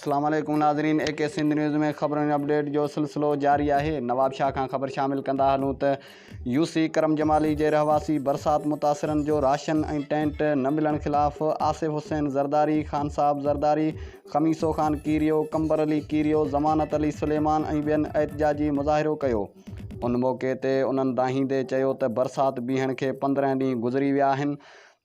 السلام عليڪم ناظرين اي ڪي سنڌ نيوز ۾ خبرن اپڊيٽ جو سلسلو جاري آهي نواب شاهه کان خبر شامل ڪندا هلون ته يو سي ڪرم جمالي جي رهواسي برسات متاثرن جو راشن ۽ ٽينٽ نه ملڻ خلاف آصف حسين زرداري خان صاحب زرداري خميسو خان ڪيريو قمبر علي ڪيريو ضمانت علي سليمان ۽ ٻين احتجاجي مظاهرو ڪيو ان موقعي تي انهن دانهيندي چيو ته برسات بيهڻ کي پندرهن ڏينهن گذري ويا آهن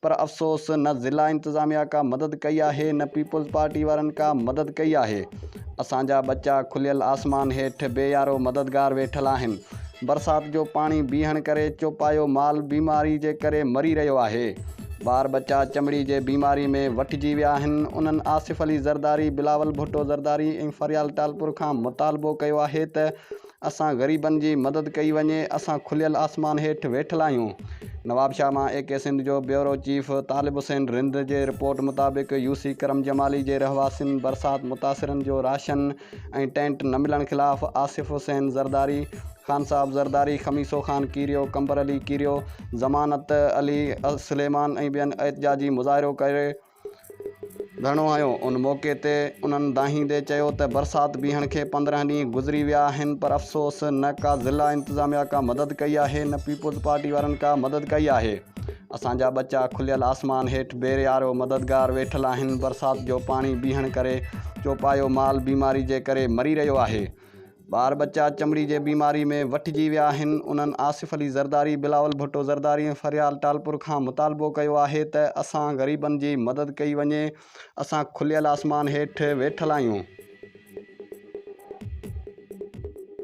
پر افسوس نه ضلع انتظاميا ڪا مدد ڪئي آهي نه پيپلز پارٽي وارن ڪا مدد ڪئي آهي اسان جا ٻچا کليل آسمان هيٺ بي يارو مددگار ويٺل آهن برسات جو پاڻي بيهڻ ڪري چوپايو مال بيماري جي ڪري مري رهيو آهي ٻار ٻچا چمڙي جي بيماري ۾ وٺجي ويا آهن انهن آصف علي زرداري بلاول ڀٽو زرداري ۽ فريال ٽالپور کان مطالبو ڪيو آهي ته اسان غريبن جي مدد ڪئي وڃي اسان کليل آسمان هيٺ ويٺل آهيون نوابشاهه مان اي ڪي سنڌ جو بيورو چيف طالب حسين رند جي رپورٽ مطابق يو سي ڪرم جمالي جي رهواسين برسات متاثرن جو راشن ۽ ٽينٽ نه ملڻ خلاف آصف حسين زرداري خان صاحب زرداري خميسو خان ڪيريو قمبر علي ڪيريو ضمانت علي سليمان ۽ ٻين احتجاجي مظاهرو ڪري گهڻو هنيو. ان موقعي تي انهن دانهيندي چيو ته برسات بيهڻ کي پندرهن ڏينهن گذري ويا آهن پر افسوس نه ڪا ضلع انتظاميا ڪا مدد ڪئي آهي نه پيپلز پارٽي وارن ڪا مدد ڪئي آهي اسان جا ٻچا کليل آسمان هيٺ بيري آرو مددگار ويٺل آهن برسات جو پاڻي بيهڻ ڪري چوپايو مال بيماري جي ڪري مري رهيو آهي ٻار ٻچا چمڙي جي بيماري ۾ وٺجي ويا آهن، انهن آصف علي زرداري، بلاول ڀٽو زرداري ۽ فريال ٽالپر کان مطالبو ڪيو آهي ته اسان غريبن جي مدد ڪئي وڃي، اسان کليل آسمان هيٺ ويٺل آهيون.